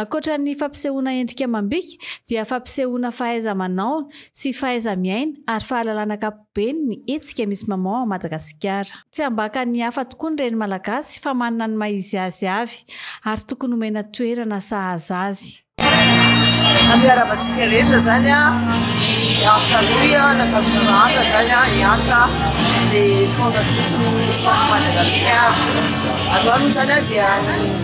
Ankoatra ny fampisehoana endrika amam-bika dia fampisehoana fahaiza-manao sy fahaiza-miaina ary fahalalana ankapobeny ny hetsika Miss Maman ao Madagasikara. Tsy ambakan'ny hafa tokoa ny reny malagasy fa manana ny maha-izy azy avy ary tokony homena toerana sahaza azy. Nampiarahaba antsika rehetra zany ny Art Hanoï nankatoa rahaka zany i Art izay fondatrice ny Miss Maman Madagascar. Androany moa zany dia ny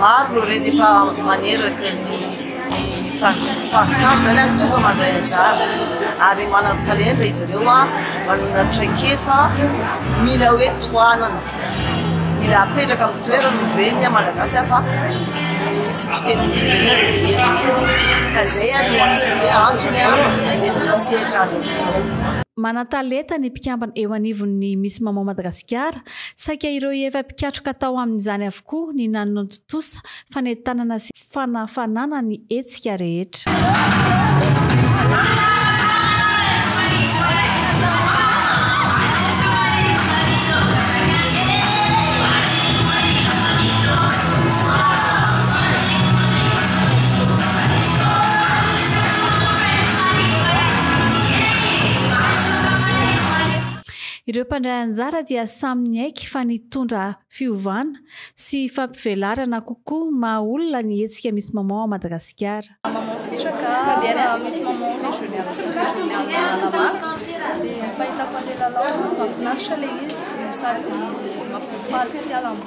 Maro ireny efa maneraka ny faritanin'izany ary tonga mandray anjara ary manan-talenta izy ireo a, manana traikefa, mila hoe tohanana, mila apetraka amin'ny toerany ny reny a Malagasy fa ny fototr'itenin'izy ireny ary dia hira ihany ka izay ary no anisany hoe antony a hanomezana sehatra azy amin'izao. Manan-talenta ny mpikambana eo anivon'ny Miss Maman Madagasikara Saika ireo efa mpikatroka tao amin'izany avokoa ny nanontotosa fanentanana sy fanafanana ny hetsika rehetra. Ireo mpandray anjara dia samy niaiky fa nitondra fiovana sy fampivelarana kokoa maha olona ny hetsika Miss Maman Madagasikara. Maman Sitraka, Miss Maman Régionale Régionale Analamanga, dia ny fahitako an'ilay lalao, mahafinaritra ilay izy no sady maha-festival koa ny lalana.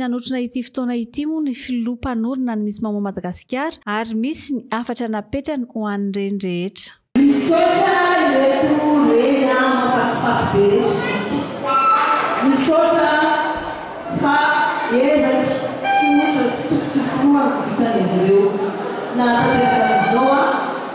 Ny hanotrona ity fotoana ity moa ny filoha mpanorina ny Miss Maman Madagasikara ary misy ny hafatra napetrany ho an'ireny rehetra. Misaotra ireto reny a mafatifaty be ireto sisa misaotra fa ezaky tsy ohatra tsy tokotokoloa ny vitan'izy ireo nahatanteraka an'izao a.